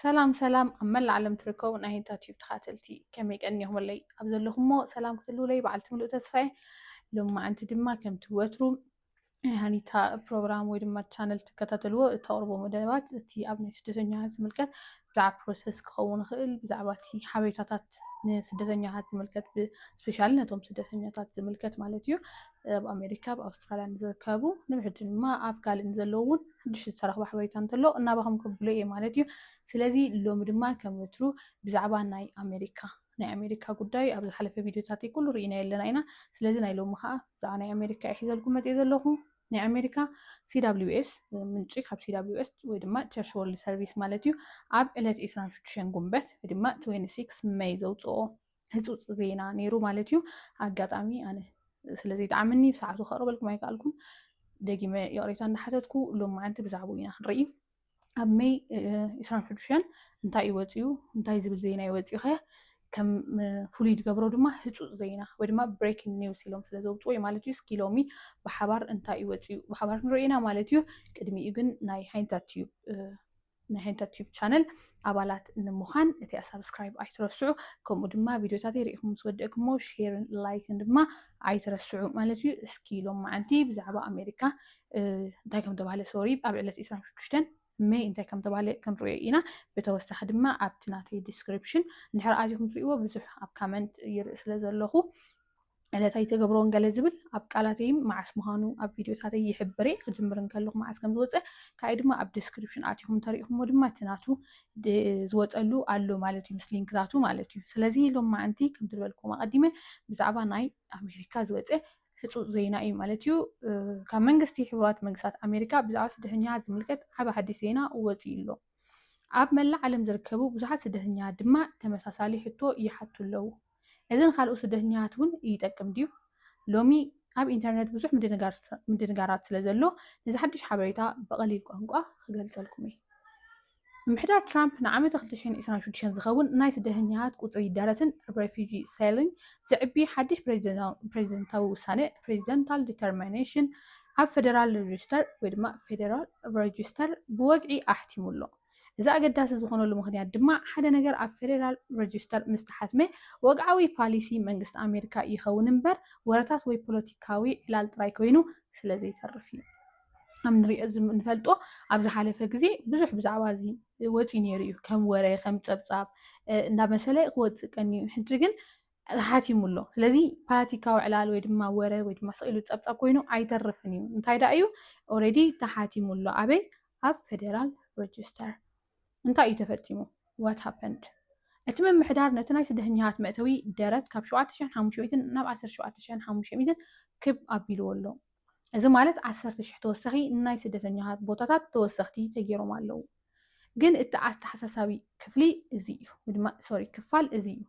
ሰላም ሰላም ኣብ መላእ ዓለም ትርከቡ ናይ ህንታ ቲዩብ ተኻተልቲ ከመይ ቀኒኹምለይ ኣብ ዘለኹሞ ሰላም ክትህልውለይ በዓልቲ ምሉእ ተስፋየ ሎማዓንቲ ድማ ከምቲ ወትሩ ናይ ሃኒታ ፕሮግራም ወይ ድማ ቻነል ትከታተልዎ እተቕርቦ መደባት እቲ ኣብ ናይ ስደተኛታት ዝምልከት ብዛዕባ ፕሮሰስ ክኸውን ይኽእል ብዛዕባ እቲ ሓበሬታታት ንስደተኛታት ዝምልከት ብስፔሻሊ ነቶም ስደተኛታት ዝምልከት ማለት እዩ ኣብ ኣሜሪካ ኣብ ኣውስትራልያ ንዝርከቡ ንብሕጂ ድማ ኣብ ካልእ ንዘለዉ እውን ሓድሽ ዝተረኽበ ሓበሬታ እንተሎ እናባኹም ከብሎ እየ ማለት እዩ ስለዚ ሎሚ ድማ ከም ወትሩ ብዛዕባ ናይ ኣሜሪካ ናይ ኣሜሪካ ጉዳይ ኣብ ዝሓለፈ ቪድዮታት ኩሉ ርኢና ኣለና ኢና ስለዚ ናይ ሎሚ ከዓ ብዛዕባ ናይ ኣሜሪካ እየ ሒዘልኩም መፅየ ዘለኹ ናይ ኣሜሪካ ሲwስ ምንጪ ካብ ሲwስ ወይ ድማ ቸርች ወርልድ ሰርቪስ ማለት እዩ ኣብ ዕለት 26 ጉንበት ወይ ድማ 26 መይ ዘውፅኦ ህፁፅ ዜና ነይሩ ማለት እዩ ኣጋጣሚ ኣነ ስለዘይጠዓመኒ ብሰዓቱ ከቕርበልኩም ኣይከኣልኩን ደጊመ ይቕሬታ እንዳሓተትኩ ሎም መዓንቲ ብዛዕባኡ ኢና ክንርኢ ኣብ መይ ኢስራን ሽዱሽተን እንታይ እዩ ወፂኡ እንታይ ዝብል ዜና እዩ ወፂኡ ከ ከም ፍሉይ ዝገብሮ ድማ ህፁፅ ዜና ወይ ድማ ብሬኪንግ ኒውስ ኢሎም ስለ ዘውፅዎ እዩ ማለት እዩ እስኪ ሎሚ ብሓባር እንታይ እዩ ወፂኡ ብሓባር ክንሪኦ ኢና ማለት እዩ ቅድሚኡ ግን ናይ ሃይንታት እዩ ናይ ሕንከት ቲዩብ ቻነል ኣባላት ንምዃን እቲ ሳብስክራይብ ኣይትረስዑ ከምኡ ድማ ቪድዮታተይ ርኢኹም ምስ ወደእክሞ ሼርን ላይክን ድማ ኣይትረስዑ ማለት እዩ እስኪ ሎማዓንቲ ብዛዕባ ኣሜሪካ እንታይ ከም ተባህለ ሶሪ ኣብ ዕለት 26 መይ እንታይ ከም ተባህለ ክንሪኦ ኢና ብተወሳኺ ድማ ኣብቲ ናተይ ዲስክሪፕሽን እንድሕር ኣዚኹም ትሪእዎ ብዙሕ ኣብ ካመንት ይርኢ ስለ ዘለኹ ዕለት ኣይተገብሮን ገለ ዝብል ኣብ ቃላተይ መዓስ ምዃኑ ኣብ ቪድዮታተይ ይሕብር እየ ክጅምር እንከለኹ መዓስ ከም ዝወፀ ካይ ድማ ኣብ ዲስክሪፕሽን ኣቲኹም እንተሪኢኹምዎ ድማ እቲ ናቱ ዝወፀሉ ኣሎ ማለት እዩ ምስ ሊንክታቱ ማለት እዩ ስለዚ ሎም መዓንቲ ከም ዝበልኩም ኣቐዲመ ብዛዕባ ናይ ኣሜሪካ ዝወፀ ህፁፅ ዜና እዩ ማለት እዩ ካብ መንግስቲ ሕቡራት መንግስታት ኣሜሪካ ብዛዕባ ስደተኛታት ዝምልከት ዓብ ሓዲስ ዜና ወፂኡ ኣሎ ኣብ መላእ ዓለም ዝርከቡ ብዙሓት ስደተኛታት ድማ ተመሳሳሊ ሕቶ ይሓቱ ኣለዉ እዚ ንኻልኦት ስደተኛታት እውን ይጠቅም ድዩ? ሎሚ ኣብ ኢንተርነት ብዙሕ ምድንጋራት ስለ ዘሎ፣ ነዚ ሓድሽ ሓበሬታ ብቐሊል ቋንቋ ክገልጸልኩም እየ። ምምሕዳር ትራምፕ ንዓመተ ክልተ ሽሕን ዕስራን ሽዱሽተን ዝኸውን ናይ ስደተኛታት ቁጽሪ ይዳረትን ኣብ ረፊጂ ሰሊንግ ዘዕቢ ሓድሽ ፕሬዚደንታዊ ውሳነ፣ ፕሬዚደንታል ዲተርሚኔሽን፣ ኣብ ፈደራል ረጂስተር ወይ ድማ ፌደራል ረጂስተር ብወግዒ ኣሕቲሙ ኣሎ። እዚ ኣገዳሲ ዝኾነሉ ምኽንያት ድማ ሓደ ነገር ኣብ ፌዴራል ረጂስተር ምስ ተሓትመ ወግዓዊ ፓሊሲ መንግስቲ ኣሜሪካ ይኸውን እምበር ወረታት ወይ ፖለቲካዊ ዕላል ጥራይ ኮይኑ ስለ ዘይተርፍ እዩ። ከም ንሪኦ ንፈልጦ ኣብ ዝሓለፈ ግዜ ብዙሕ ብዛዕባ እዚ ወፂኡ ነይሩ እዩ ከም ወረ ከም ፀብፃብ እንዳመሰለ ክወፅእ ቀንዩ ሕጂ ግን ሓቲሙ ኣሎ። ስለዚ ፓለቲካዊ ዕላል ወይ ድማ ወረ ወይ ድማ ስቕ ኢሉ ጸብጻብ ኮይኑ ኣይተርፍን እዩ። እንታይ ደኣ እዩ ኦልሬዲ ተሓቲሙ ኣሎ። ኣበይ? ኣብ ፌደራል ረጅስተር። እንታይ እዩ ተፈጺሙ? ዋት ሃፐንድ? እቲ ምምሕዳር ነቲ ናይ ስደተኛታት መእተዊ ደረት ካብ ሸውዓተ ሽሕን ሓሙሽተ ሚእትን ናብ ዓሰርተ ሸውዓተ ሽሕን ሓሙሽተ ሚእትን ክብ ኣቢልዎ ኣሎ። እዚ ማለት ዓሰርተ ሽሕ ተወሳኺ ናይ ስደተኛታት ቦታታት ተወሰኽቲ ተጌሮም ኣለዉ። ግን እቲ ኣተሓሳሳቢ ክፍሊ እዚ እዩ ወይ ድማ ሶሪ ክፋል እዚ እዩ።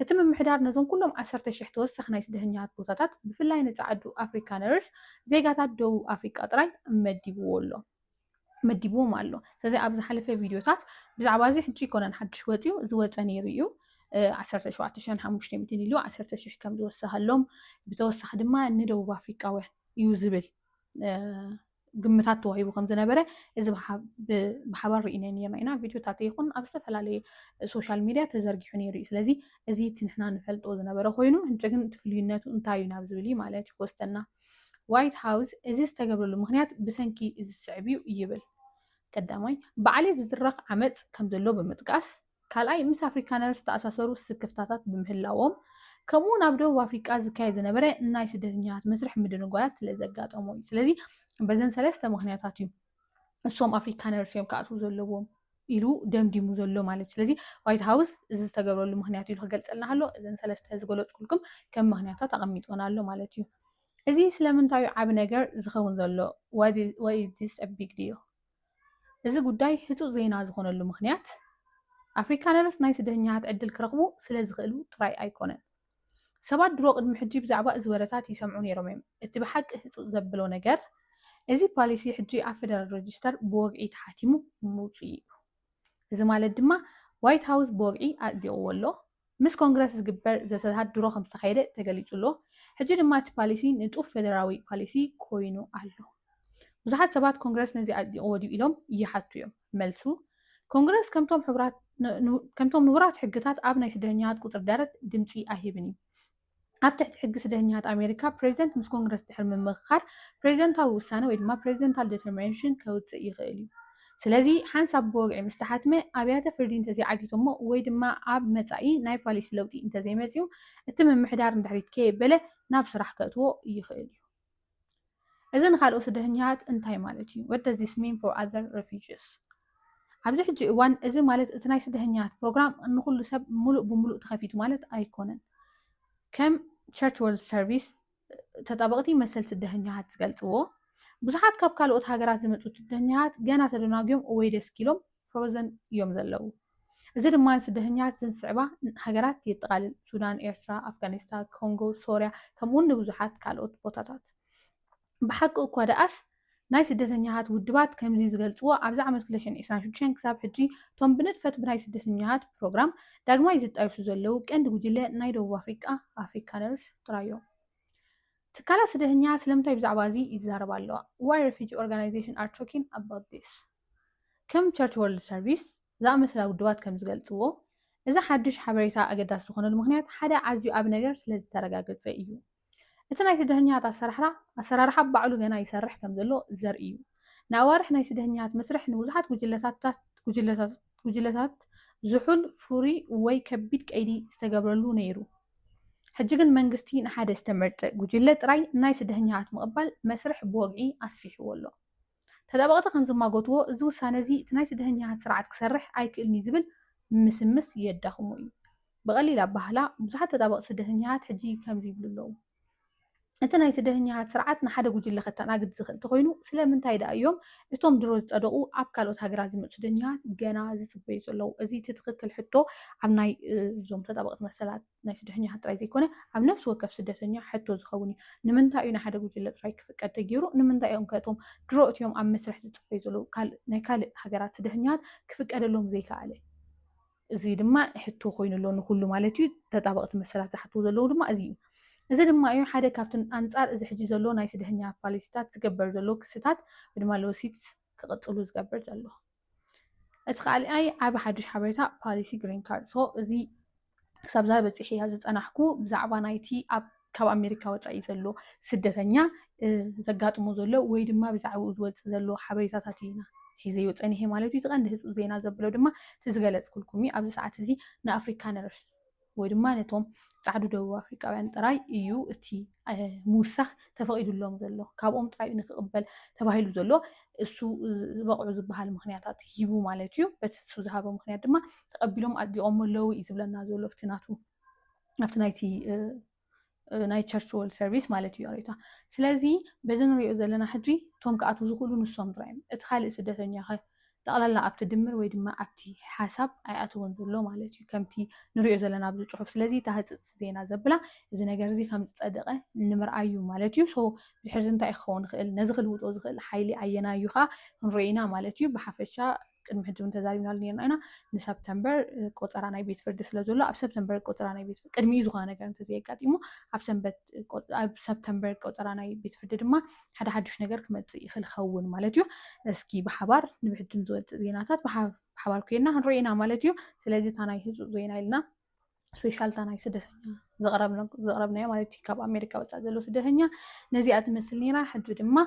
እቲ ምምሕዳር ነዞም ኩሎም ዓሰርተ ሽሕ ተወሳኺ ናይ ስደተኛታት ቦታታት ብፍላይ ንጻዓዱ ኣፍሪካነርስ ዜጋታት ደቡብ ኣፍሪቃ ጥራይ መዲብዎ ኣሎ። መዲብዎም ኣሎ ስለዚ ኣብ ዝሓለፈ ቪድዮታት ብዛዕባ እዚ ሕጂ ይኮነን ሓድሽ ወፅዩ ዝወፀ ነይሩ እዩ 17500 ኢሉ 10000 ከም ዝወሰኸሎም ብተወሳኺ ድማ ንደቡብ ኣፍሪቃውያን እዩ ዝብል ግምታት ተዋሂቡ ከም ዝነበረ እዚ ብሓባር ርኢናዮ ነርና ኢና ቪድዮታት ይኹን ኣብ ዝተፈላለየ ሶሻል ሚድያ ተዘርጊሑ ነይሩ እዩ ስለዚ እዚ እቲ ንሕና ንፈልጦ ዝነበረ ኮይኑ ሕጂ ግን እቲ ፍልዩነቱ እንታይ እዩ ናብ ዝብል እዩ ማለት እዩ ክወስደና ዋይት ሃውስ እዚ ዝተገብረሉ ምኽንያት ብሰንኪ እዚ ዝስዕብ'ዩ ይብል። ቀዳማይ፣ ብዓሌት ዝድረኽ ዓመጽ ከምዘሎ ብምጥቃስ፣ ካልኣይ፣ ምስ ኣፍሪካነር ዝተኣሳሰሩ ስክፍታታት ብምህላዎም፣ ከምኡ'ውን ኣብ ደቡብ ኣፍሪቃ ዝካየድ ዝነበረ ናይ ስደተኛታት መስርሕ ምድንጓያት ስለዘጋጠሞ'ዩ። ስለዚ በዘን ሰለስተ ምኽንያታት'ዩ። እሶም ኣፍሪካነርስ እዮም ክኣትዉ ዘለዎም ኢሉ ደምዲሙ ዘሎ ማለት እዩ ስለዚ ዋይት ሃውስ እዚ ዝተገብረሉ ምክንያት ኢሉ ክገልፀልና ከሎ እዘን ሰለስተ ዝገለፅኩልኩም ከም ምክንያታት ኣቐሚጦን ኣሎ ማለት እዩ እዚ ስለምንታዩ ዓብ ነገር ዝኸውን ዘሎ ወይስ ቢግ ዲል እዚ ጉዳይ ህፁፅ ዜና ዝኾነሉ ምክንያት ኣፍሪካነርስ ናይ ስደተኛታት ዕድል ክረኽቡ ስለ ዝኽእሉ ጥራይ ኣይኮነን ሰባት ድሮ ቅድሚ ሕጂ ብዛዕባ እዚ ወረታት ይሰምዑ ነይሮም እዮም። እቲ ብሓቂ ህጹጽ ዘብሎ ነገር፣ እዚ ፓሊሲ ሕጂ ኣብ ፈደራል ረጅስተር ብወግዒ ተሓቲሙ ምውጽኡ እዩ። እዚ ማለት ድማ ዋይት ሃውስ ብወግዒ ኣጽዲቕዎ ኣሎ። ምስ ኮንግረስ ዝግበር ዘተታት ድሮ ከም ዝተኻየደ ተገሊጹ ኣሎ። ሕጂ ድማ እቲ ፓሊሲ ንጡፍ ፈደራዊ ፓሊሲ ኰይኑ ኣሎ። ብዙሓት ሰባት ኮንግረስ ነዚ ኣጽዲቕዎ ድዩ ኢሎም ይሓቱ እዮም። መልሱ፣ ኮንግረስ ከምቶም ሕቡራት ን ከምቶም ንቡራት ሕግታት ኣብ ናይ ስደተኛታት ቁጽሪ ደረት ድምጺ ኣይህብን እዩ። ኣብ ትሕቲ ሕጊ ስደተኛታት ኣሜሪካ፣ ፕሬዚደንት ምስ ኮንግረስ ድሕሪ ምምኽኻር ፕሬዚደንታዊ ውሳነ ወይ ድማ ፕሬዚደንታል ደተርሚነሽን ከውጽእ ይኽእል እዩ። ስለዚ ሓንሳብ ብወግዒ ምስ ተሓትመ ኣብያተ ፍርዲ እንተዘይዓጊቶሞ ወይ ድማ ኣብ መጻኢ ናይ ፓሊሲ ለውጢ እንተዘይመጺኡ እቲ ምምሕዳር ንድሕሪት ከየበለ ናብ ስራሕ ከእትዎ ይኽእል እዩ። እዚ ንካልኦት ስደተኛታት እንታይ ማለት እዩ? What does this mean for other refugees? ኣብዚ ሕጂ እዋን እዚ ማለት እቲ ናይ ስደተኛታት ፕሮግራም ንኩሉ ሰብ ሙሉእ ብሙሉእ ተኸፊቱ ማለት ኣይኮነን። ከም ቸርች ወርልድ ሰርቪስ ተጣበቕቲ መሰል ስደተኛታት ዝገልፅዎ ብዙሓት ካብ ካልኦት ሃገራት ዝመፁ ስደተኛታት ገና ተደናጉዮም ወይ ደስኪሎም ፍሮዘን እዮም ዘለዉ። እዚ ድማ ንስደተኛታት እዘን ዝስዕባ ሃገራት የጠቓልል፣ ሱዳን፣ ኤርትራ፣ ኣፍጋኒስታ፣ ኮንጎ፣ ሶርያ፣ ከምኡ'ውን ንብዙሓት ካልኦት ቦታታት። ብሓቂ እኳ ደኣስ፣ ናይ ስደተኛታት ውድባት ከምዚ ዝገልጽዎ፣ ኣብዚ ዓመት ክልተ ሽሕን ዕስራን ሽዱሽተን ክሳብ ሕጂ እቶም ብንጥፈት ብናይ ስደተኛታት ፕሮግራም ዳግማይ ዝጣየሹ ዘለዉ ቀንዲ ጉጅለ ናይ ደቡብ ኣፍሪቃ ኣፍሪካነርስ ጥራይ'ዮም። ትካላት ስደተኛታት ስለምንታይ ብዛዕባ እዚ ይዛረባ ኣለዋ? Why refugee organizations are talking about this? ከም ቸርች ወርልድ ሰርቪስ ዝኣመሰላ ውድባት ከም ዝገልጽዎ፣ እዚ ሓድሽ ሓበሬታ ኣገዳሲ ዝኾነሉ ምኽንያት ሓደ ኣዝዩ ዓቢ ነገር ስለ ዝተረጋገጸ ኢዩ። እቲ ናይ ስደተኛታት ኣሰራርሓ ኣሰራርሓ ባዕሉ ገና ይሰርሕ ከም ዘሎ ዘርኢ ኢዩ። ንኣዋርሕ ናይ ስደተኛታት መስርሕ ንብዙሓት ጉጅለታትታት ጉጅለታትታት ዝሑል፣ ፍሩይ ወይ ከቢድ ቀይዲ ዝተገብረሉ ነይሩ። ሕጂ ግን መንግስቲ ንሓደ ዝተመርጸ ጉጅለ ጥራይ ናይ ስደተኛታት ምቕባል መስርሕ ብወግዒ ኣስፊሕዎ ኣሎ። ተጣበቕቲ ከም ዝማጎትዎ፣ እዚ ውሳነ'ዚ እቲ ናይ ስደተኛታት ስርዓት ክሰርሕ ኣይክእልን'ዩ ዝብል ምስምስ የዳኽሞ እዩ። ብቐሊል ኣበሃህላ፣ ብዙሓት ተጣበቕቲ ስደተኛታት ሕጂ ከምዚ ይብሉ ኣለዉ፣ እቲ ናይ ስደተኛታት ስርዓት ንሓደ ጉጅለ ከተኣናግድ ዝኽእል ተኾይኑ፣ ስለምንታይ ደኣ እዮም እቶም ድሮ ዝጸደቑ ኣብ ካልኦት ሃገራት ዝመጹ ስደተኛታት ገና ዝጽበዩ ዘለዉ? እዚ እቲ ትኽክል ሕቶ ኣብ ናይ እዞም ተጣበቕቲ መሰላት። ናይ ስደተኛታት ጥራይ ዘይኮነ ኣብ ነፍሲ ወከፍ ስደተኛ ሕቶ ዝኸውን እዩ። ንምንታይ እዩ ንሓደ ጉጅለ ጥራይ ክፍቀድ ተገይሩ? ንምንታይ እዮም ከ እቶም ድሮ እትዮም ኣብ መስርሕ ዝጽበዩ ዘለዉ ናይ ካልእ ሃገራት ስደተኛታት ክፍቀደሎም ዘይከኣለ? እዚ ድማ ሕቶ ኮይኑ ኣሎ ንኹሉ ማለት እዩ። ተጣበቕቲ መሰላት ዝሓትዎ ዘለዉ ድማ እዚ እዩ። እዚ ድማ እዩ ሓደ ካብቲ ኣንጻር እዚ ሕጂ ዘሎ ናይ ስደተኛ ፓሊሲታት ዝገበር ዘሎ ክስታት ወይ ድማ ሎሲትስ ክቕጽሉ ዝገብር ዘሎ። እቲ ካልኣይ ዓቢ ሓድሽ ሓበሬታ ፓሊሲ ግሪን ካርድ ሶ እዚ ክሳብ ዛ በፂሒ እያ ዝፀናሕኩ ብዛዕባ ናይቲ ካብ ኣሜሪካ ወፃኢ ዘሎ ስደተኛ ዘጋጥሞ ዘሎ ወይ ድማ ብዛዕባኡ ዝወፅእ ዘሎ ሓበሬታታት ኢና ሒዘዮ ፀኒሐ ማለት እዩ እቲ ቀንዲ ህፁፅ ዜና ዘብሎ ድማ እቲ ዝገለፅኩልኩም እዩ ኣብዚ ሰዓት እዚ ንኣፍሪካ ነርስ ወይ ድማ ነቶም ጻዕዱ ደቡብ ኣፍሪቃውያን ጥራይ እዩ እቲ ምውሳኽ ተፈቒዱሎም ዘሎ ካብኦም ጥራይ እዩ ንክቕበል ተባሂሉ ዘሎ እሱ ዝበቕዑ ዝበሃል ምክንያታት ሂቡ ማለት እዩ በቲ እሱ ዝሃበ ምክንያት ድማ ተቐቢሎም ኣጽዲቖሞ ኣለዉ እዩ ዝብለና ዘሎ ኣብቲ ናቱ ኣብቲ ናይቲ ናይ ቸርች ወርልድ ሰርቪስ ማለት እዩ ሬታ ስለዚ በዚ ንሪኦ ዘለና ሕጂ እቶም ክኣትዉ ዝኽእሉ ንሶም ጥራይ እዮም እቲ ካልእ ስደተኛ ኸ ጠቕላላ ኣብቲ ድምር ወይ ድማ ኣብቲ ሓሳብ ኣይኣተወን ዘሎ ማለት እዩ ከምቲ ንሪኦ ዘለና ኣብዚ ፅሑፍ ስለዚ እታ ህፅፅ ዜና ዘብላ እዚ ነገር እዚ ከም ዝፀደቐ ንምርኣይ እዩ ማለት እዩ ሶ ድሕርዚ እንታይ ክኸውን ይኽእል ነዚ ክልውጦ ዝኽእል ሓይሊ ኣየናይ እዩ ከዓ ክንሪኦ ኢና ማለት እዩ ብሓፈሻ ቅድሚ ሕጂ እውን ተዛሪብናሉ ነርና ኢና ንሰፕተምበር ቆፀራ ናይ ቤት ፍርዲ ስለ ዘሎ ኣብ ሰፕተምበር ቆፀራ ናይ ቤት ቅድሚ ዝኾነ ነገር እንተዘየጋጢሙ ኣብ ሰንበት ኣብ ሰፕተምበር ቆፀራ ናይ ቤት ፍርዲ ድማ ሓደ ሓዱሽ ነገር ክመፅእ ይኽእል ይኸውን ማለት እዩ እስኪ ብሓባር ንብሕጅም ዝወፅእ ዜናታት ብሓባር ኮይና ክንሪኦ ኢና ማለት እዩ ስለዚ እታ ናይ ህፁፅ ዜና ኢልና ስፔሻል እታ ናይ ስደተኛ ዘቕረብናዮ ማለት እዩ ካብ ኣሜሪካ ወፃእ ዘሎ ስደተኛ ነዚኣ ትመስል ነይራ ሕጂ ድማ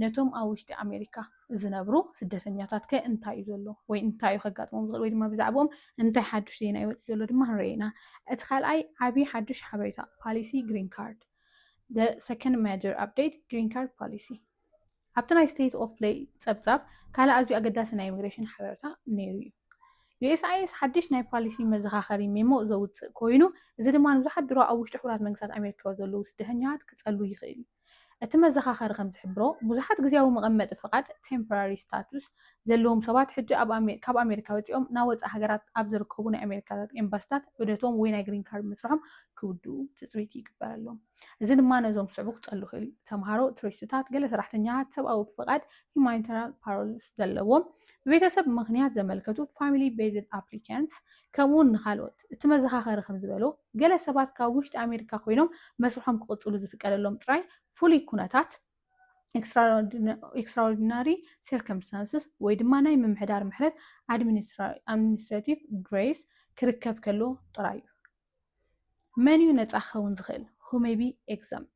ነቶም ኣብ ውሽጢ ኣሜሪካ ዝነብሩ ስደተኛታት ከ እንታይ እዩ ዘሎ ወይ እንታይ እዩ ከጋጥሞም ዝኽእል ወይ ድማ ብዛዕባኦም እንታይ ሓዱሽ ዜና ይወፅ ዘሎ ድማ ክንርኢ ኢና እቲ ካልኣይ ዓብዪ ሓዱሽ ሓበሬታ ፓሊሲ ግሪን ካርድ the second major update green card policy ኣብቲ ናይ ስቴት ኦፍ ፕለይ ጸብጻብ ካልእ ኣዝዩ ኣገዳሲ ናይ ኢሚግሬሽን ሓበረታ ነይሩ እዩ። ዩኤስኣይኤስ ሓድሽ ናይ ፓሊሲ መዘኻኸሪ ሜሞ ዘውጽእ ኮይኑ፣ እዚ ድማ ንብዙሓት ድሮ ኣብ ውሽጢ ሕቡራት መንግስታት ኣሜሪካ ዘለዉ ስደተኛታት ክጸሉ ይኽእል እዩ። እቲ መዘኻኸሪ ከም ዝሕብሮ፣ ብዙሓት ግዝያዊ መቐመጢ ፍቓድ፣ ቴምፖራሪ ስታቱስ፣ ዘለዎም ሰባት ሕጂ ካብ ኣሜሪካ ወጺኦም ናብ ወጻኢ ሃገራት ኣብ ዝርከቡ ናይ ኣሜሪካታት ኤምባሲታት ዑደቶም ወይ ናይ ግሪን ካርድ መስርሖም ክውድኡ ትጽቢት ይግበረሎም። እዚ ድማ ነዞም ክስዕቡ ክጸሉ ይኽእል እዩ፣ ተምሃሮ፣ ቱሪስትታት፣ ገለ ሰራሕተኛታት ሰብኣዊ ፍቓድ፣ Humanitarian Parole፣ ዘለዎም፣ ብቤተሰብ ምኽንያት ዘመልከቱ፣ Family Based Applicants፣ ከምኡ'ውን ንኻልኦት። እቲ መዘኻኸሪ ከም ዝበሎ፣ ገለ ሰባት ካብ ውሽጢ ኣሜሪካ ኮይኖም መስርሖም ክቕጽሉ ዝፍቀደሎም ጥራይ ፍሉይ ኩነታት፣ Extraordinary Circumstances፣ ወይ ድማ ናይ ምምሕዳር ምሕረት፣ Administrative Grace፣ ክርከብ ከሎ ጥራይ እዩ። መን እዩ ነፃ ክኸውን ዝኽእል? who may be exempt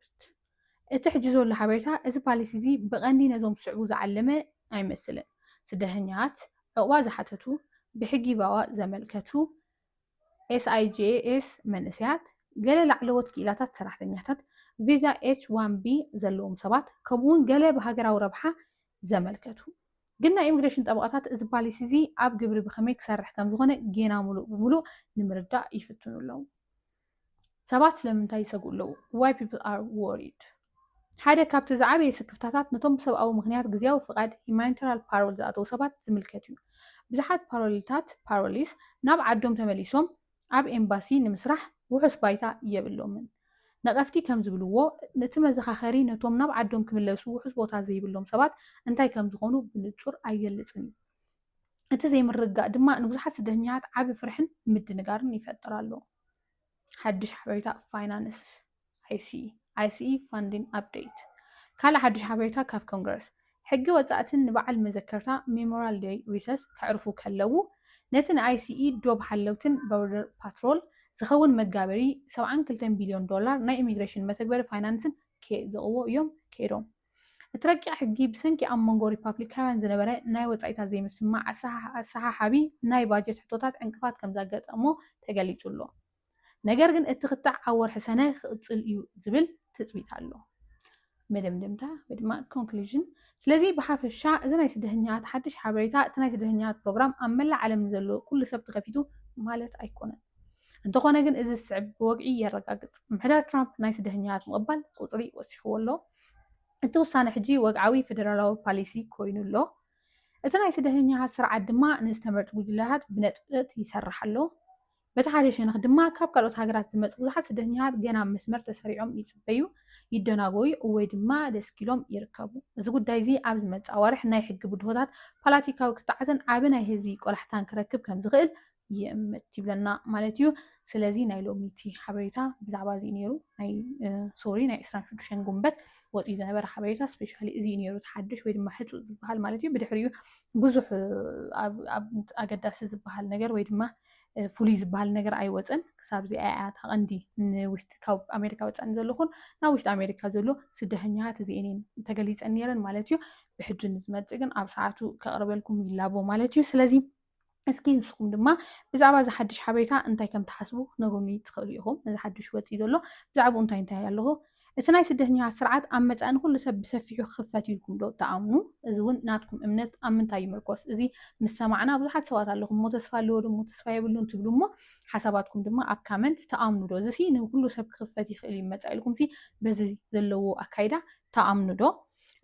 እቲ ሕጂ ዘሎ ሓበሬታ እቲ ፓሊሲ እዚ ብቐንዲ ነዞም ዝስዕቡ ዝዓለመ ኣይመስልን፣ ስደተኛታት፣ ዑቕባ ዝሓተቱ፣ ብሕጊ ቫዋ ዘመልከቱ፣ SIJS መንእሰያት፣ ገለ ላዕለዎት ክኢላታት ሰራሕተኛታት፣ ቪዛ ኤች-ዋን-ቢ ዘለዎም ሰባት፣ ከምኡ'ውን ገለ ብሃገራዊ ረብሓ ዘመልከቱ። ግን ናይ ኢሚግሬሽን ጠበቓታት እዚ ፓሊሲ እዚ ኣብ ግብሪ ብኸመይ ክሰርሕ ከም ዝኾነ ጌና ምሉእ ብምሉእ ንምርዳእ ይፍትኑ ኣለዉ። ሰባት ስለምንታይ ይሰግኡ ኣለዉ? Why People Are Worried ሓደ ካብቲ ዝዓበየ ስክፍታታት ነቶም ብሰብኣዊ ምኽንያት ግዝያዊ ፍቓድ ሂማኒተራል ፓሮል ዝኣተዉ ሰባት ዝምልከት እዩ። ብዙሓት ፓሮልታት፣ ፓሮሊስ፣ ናብ ዓዶም ተመሊሶም ኣብ ኤምባሲ ንምስራሕ ውሑስ ባይታ የብሎምን። ነቐፍቲ ከም ዝብልዎ፣ እቲ መዘኻኸሪ ነቶም ናብ ዓዶም ክምለሱ ውሑስ ቦታ ዘይብሎም ሰባት እንታይ ከም ዝኾኑ ብንጹር ኣይገልጽን እዩ። እቲ ዘይምርግጋእ ድማ ንብዙሓት ስደተኛታት ዓቢ ፍርሕን ምድንጋርን ይፈጥር ኣሎ። ሓድሽ ሓበሬታ ፋይናንስ። ICE Funding Update ካልእ ሓድሽ ሓበሬታ ካብ ኮንግረስ ሕጊ ወጻእትን ንበዓል መዘከርታ ሜሞራል ደይ ሪሰስ ከዕርፉ ከለዉ ነቲ ንኣይሲኢ ዶብ ሓለውትን ቦርደር ፓትሮል ዝኸውን መጋበሪ 72 ቢልዮን ዶላር ናይ ኢሚግሬሽን መተግበሪ ፋይናንስን ኬጽድቕዎ እዮም ከይዶም። እቲ ረቂቕ ሕጊ ብሰንኪ ኣብ መንጎ ሪፓብሊካውያን ዝነበረ ናይ ወጻኢታት ዘይምስምማዕ ኣሰሓሓቢ ናይ ባጀት ሕቶታት ዕንቅፋት ከም ዘጋጠሞ ተገሊጹ ኣሎ። ነገር ግን እቲ ክትዕ ኣብ ወርሒ ሰነ ክቕፅል እዩ ዝብል ትፅቢት ኣሎ። መደምደምታ ወይ ድማ ኮንክሉዥን ስለዚ ብሓፈሻ እዚ ናይ ስደተኛታት ሓድሽ ሓበሬታ እቲ ናይ ስደተኛታት ፕሮግራም ኣብ መላእ ዓለም ንዘሎ ኩሉ ሰብ ተኸፊቱ ማለት ኣይኮነን። እንተኾነ ግን እዚ ዝስዕብ ብወግዒ የረጋግፅ፣ ምሕደራ ትራምፕ ናይ ስደተኛታት ምቕባል ቁፅሪ ወሲኽዎ ኣሎ። እቲ ውሳነ ሕጂ ወግዓዊ ፌደራላዊ ፓሊሲ ኮይኑ ኣሎ። እቲ ናይ ስደተኛታት ስርዓት ድማ ንዝተመርጡ ጉጅለታት ብነጥብጠት ይሰርሕ ኣሎ። በቲ ሓደ ሸነኽ ድማ ካብ ካልኦት ሃገራት ዝመጹ ብዙሓት ስደተኛታት ገና ኣብ መስመር ተሰሪዖም ይጽበዩ፣ ይደናጎዩ ወይ ድማ ደስኪሎም ይርከቡ። እዚ ጉዳይ'ዚ ኣብ ዝመጽእ ኣዋርሕ ናይ ሕጊ ብድሆታት፣ ፓላቲካዊ ክትዓትን ዓቢ ናይ ህዝቢ ቆላሕታን ክረክብ ከም ዝኽእል ይእምት ይብለና ማለት እዩ። ስለዚ ናይ ሎሚ'ቲ ሓበሬታ ብዛዕባ እዚ'ዩ ነይሩ። ናይ ሶሪ ናይ ዕስራን ሽዱሽተን ጉንበት ወጺኡ ዝነበረ ሓበሬታ ስፔሻሊ እዚ'ዩ ነይሩ እቲ ሓድሽ ወይ ድማ ሕጹእ ዝበሃል ማለት እዩ። ብድሕሪኡ ብዙሕ ኣብ ኣብ ኣገዳሲ ዝበሃል ነገር ወይ ድማ ፍሉይ ዝበሃል ነገር ኣይወፀን ክሳብ እዚኣ እያ እታ ቀንዲ ንውሽጢ ካብ ኣሜሪካ ወፃእ ንዘለኹን ናብ ውሽጢ ኣሜሪካ ዘሎ ስደተኛታት እዚኤን እየን ተገሊፀን ነይረን ማለት እዩ ብሕጂ ንዝመፅእ ግን ኣብ ሰዓቱ ከቕርበልኩም ይላቦ ማለት እዩ ስለዚ እስኪ ንስኹም ድማ ብዛዕባ እዚ ሓድሽ ሓበሬታ እንታይ ከም ትሓስቡ ክነግሩኒ ትኽእሉ ኢኹም እዚ ሓድሽ ወፂ ዘሎ ብዛዕባኡ እንታይ እንታይ ኣለኹ እቲ ናይ ስደተኛታት ስርዓት ኣብ መጻኢ ንኹሉ ሰብ ብሰፊሑ ክኽፈት እዩ ኢልኩም ዶ ትኣምኑ? እዚ እውን ናትኩም እምነት ኣብ ምንታይ ይምርኮስ? እዚ ምስ ሰማዕና ብዙሓት ሰባት ኣለኹም እሞ ተስፋ ኣለዎ ድሞ ተስፋ የብሉን ትብሉ እሞ ሓሳባትኩም ድማ ኣብ ካመንት ትኣምኑ ዶ? እዚሲ ንኹሉ ሰብ ክኽፈት ይኽእል እዩ መጻኢ ኢልኩምሲ በዚ ዘለዎ ኣካይዳ ትኣምኑ ዶ?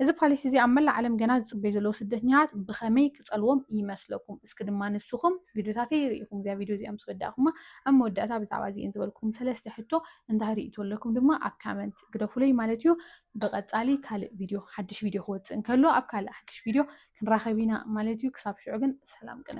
እዚ ፓሊሲ እዚ ኣብ መላእ ዓለም ገና ዝጽበዩ ዘለዉ ስደተኛታት ብኸመይ ክጸልዎም ይመስለኩም? እስኪ ድማ ንስኹም ቪድዮታተይ ርኢኹም እዚኣ ቪድዮ እዚኣ ምስ ወዳእኩማ ኣብ መወዳእታ ብዛዕባ እዚኤን ዝበልኩም ሰለስተ ሕቶ እንታይ ርኢቶ ኣለኩም ድማ ኣብ ካመንት ግደፉለይ ማለት እዩ። ብቐጻሊ ካልእ ቪድዮ ሓድሽ ቪድዮ ክወጽእ እንከሎ ኣብ ካልእ ሓድሽ ቪድዮ ክንራኸብ ኢና ማለት እዩ። ክሳብ ሽዑ ግን ሰላም ቅነ።